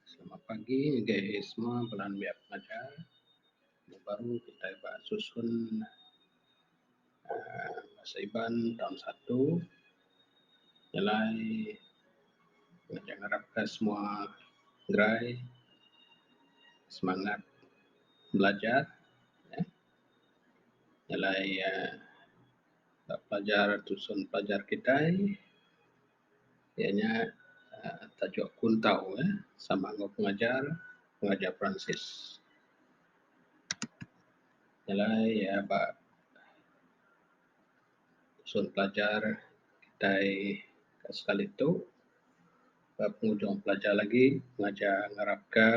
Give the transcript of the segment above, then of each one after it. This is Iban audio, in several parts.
Selamat pagi ngagai ahi semua bala anu maya pengajar. Anu baru kitai ba susun uhh Bahasa Iban taun satu. Jalai ngajar ngarap ka semua gerai semangat belajar uhh. Jalai uhh ba pelajar susun pelajar kitai. iya nya tajuk kuntau eh sama enggau pengajar pengajar peransis jalai iya ba sun pelajar kitai ka sekali tu ba penghujung pelajar lagi pengajar ngarap ka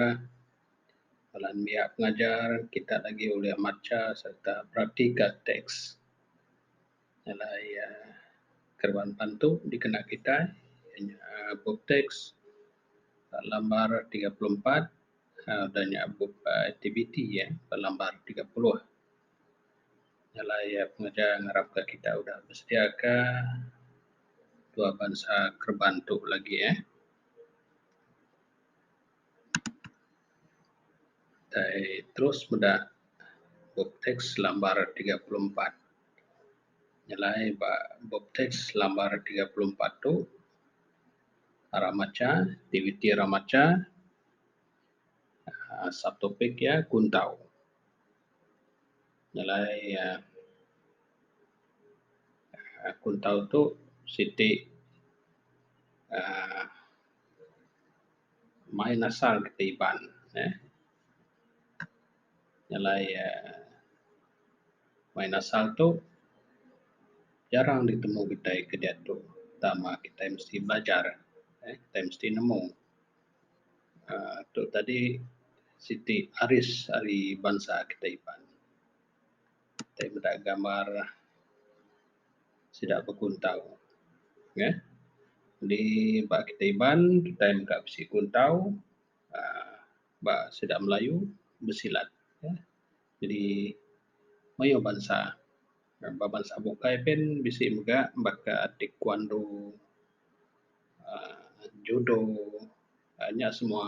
bala nembiya pengajar kitak lagi ulih macha sereta beratika teks. Bala iya kereban bantu dikena kitai iya nya bup tax ba lambar tiga puluh empat aaa udah nya bup aktiviti ba lambar tiga puluh. Bala iya pengereja ngarapka kitai udah besediaka dua bansa kereban tu lagi eh. Kitai terus meda bup tax lambar tiga puluh empat. nyelai ba bup teks lambar tiga puluh empat tu ra macha aktiviti ra macha um subtopik iya kuntau nyelai um kuntau tu siti um main asal ti Iban um nyalai um main asal tu jarang ditemu kitai ke diatu tama kitai mesti belajar um kitai mesti nemu um tu tadi siti aris ari bansa kitai iban. Tai meda gambar sida bekuntau neh di ba kitai iban kitai mega bisi kuntau um ba sida Melayu besilat um jadi mayuh bansa um ba bansa bukai pun bisi mega baka taekwondo um judo um nya semua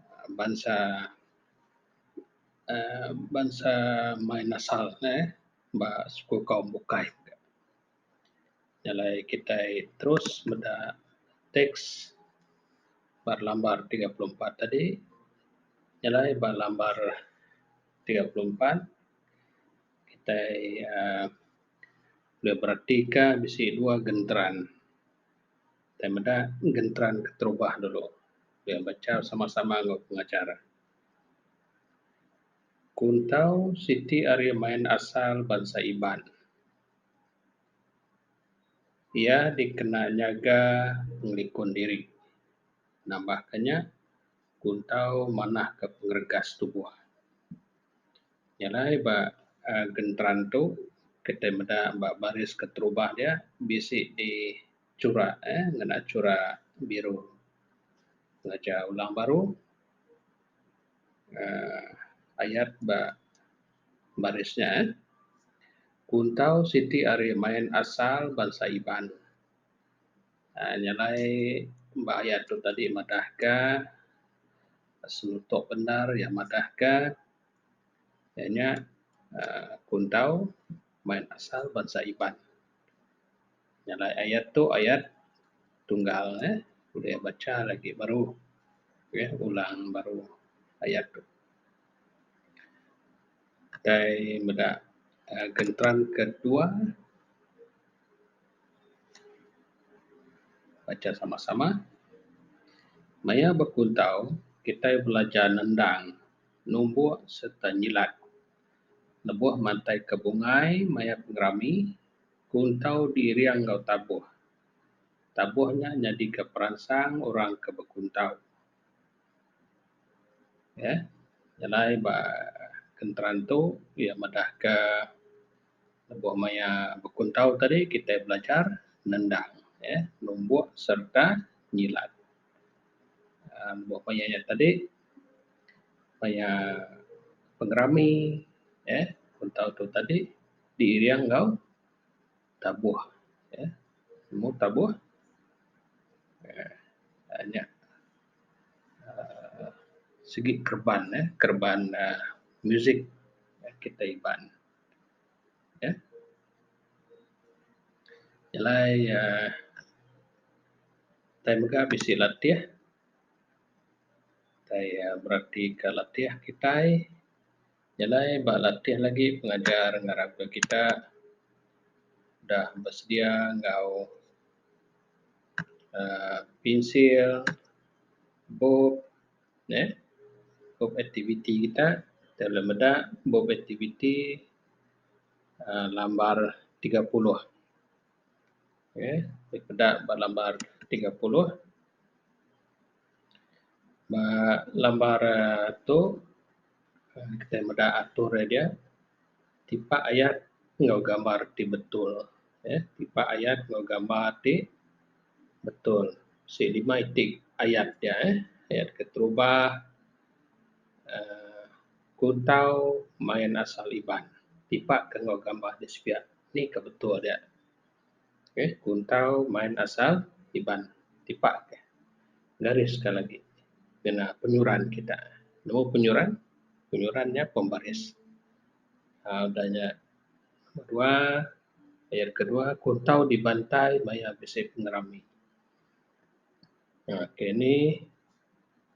um bansa um bansa main asal ne ba sekul kaum bukai. jalai kitai terus meda tax ba lambar tiga puluh empat tadi jalai ba lambar tiga puluh empat kitai um ulih beratika bisi dua genteran tai meda genteran keterubah dulu bia bacha sama sama enggau pengajar. Kuntau siti ari main asal bansa Iban. Iya dikena nyaga pengelikun diri nambah ka nya kun tau manah ka pengeregas tubuh. Nya alai ba uhh genteran tu kitai meda ba baris keterubah dia bisi di chura uhh ngena chura biru ngajah ulang baru. um ayat ba baris nya eh kuntau siti ari main asal bansa Iban um nya alai ba ayat tu tadi madah ka selutok bandar iya madah ka iya nya um kuntau main asal bansa Iban. Nya alai ayat tu ayat tunggal eh bulih bacha lagi baru eh ulang baru ayat tu. Kitai meda aaa genteran ke dua bacha sama sama. Maya bekuntau kitai belajar nendang numbuk sereta nyilat lebuh mantai ke bungai maya pengerami Kuntau diiring enggau tabuh. Tabuh nya nyadika peransang orang ke bekuntau. Ye, nyelai ba kenteran tu iya madahka lebuh maya bekuntau tadi kitai belajar nendang, ye, numbuk sereta nyilat. aaa Lebuh maya nya tadi, maya pengerami, ye, kuntau tu tadi. diiring enggau tabuh um nemu tabuh um nya um sigi kereban um kereban um muzik kitai Iban um nyelai um tai mega bisi latih tai um beratika latih kitai. Jalai ba latih lagi pengajar ngarap ka kita udah besedia enggau uhh pensil, bup neh, bup aktiviti kita. Kita ulih meda bup aktiviti uhh lambar tiga puluh. Okey, peda ba lambar tiga puluh. Ba lambar tu kitai meda atur iya dia tipak ayat enggau gambar ti betul uhh tipak ayat enggau gambar ti betul sik lima iti ayat dia uhh ayat keterubah uhh kuntau main asal Iban tipak ke enggau gambar ti sepiak ni ka betul dia. Okey, kuntau main asal Iban tipak ke garis ke lagi kena penyuran kita. Nemu penyuran, penyuran nya pembaris. Aaa udah nya namba dua, ayat kedua kuntau dibantai maya bisi pengerami. Aaa ke ni.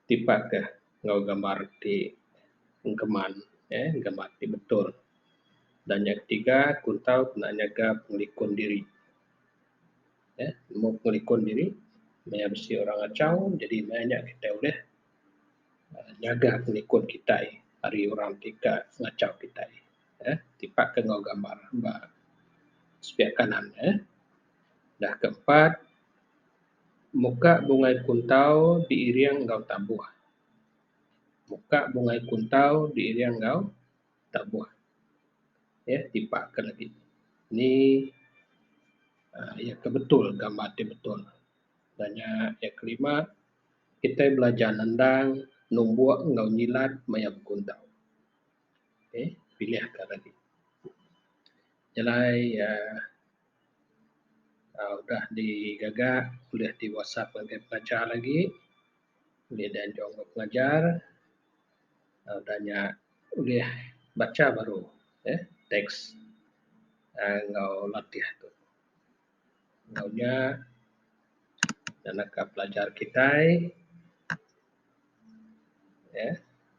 tipat ka enggau gambar ti engkeman uhh gambar ti betul. Dan nya ketiga ku tau ku bala nyaga pengelikun diri uhh mung pengelikun diri maya bisi orang achau jadi maya nya kitai ulih nyaga pengelikun kitai ari orang ti ka ngachau kitai uhh tipat ka enggau gambar ba spiak kanan uhh. Da keempat. Muka bungai kuntau diiring enggau tabuh. Muka bungai kuntau diiring enggau tabuh. Okey, tipak ke lagi. Ni aaa iya ke betul gambar ti betul. Udah nya iya kelima kitai belajar nendang, numbuk enggau nyilat maya bekuntau. Okey, pilihka lagi. Nya alai aaa uhh udah digaga bulih ti whatsapp ngagai pengajar lagi bulih deh anjung ba pengajar uhh udah nya bulih bacha baru uhh teks uhh enggau latih tu. Enggau nya naka pelajar kitai. Eee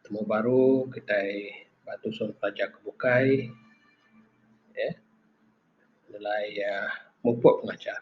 temu baru kitai ba tusun pelajar ke bukai eee nyelai iya mupok pengajar.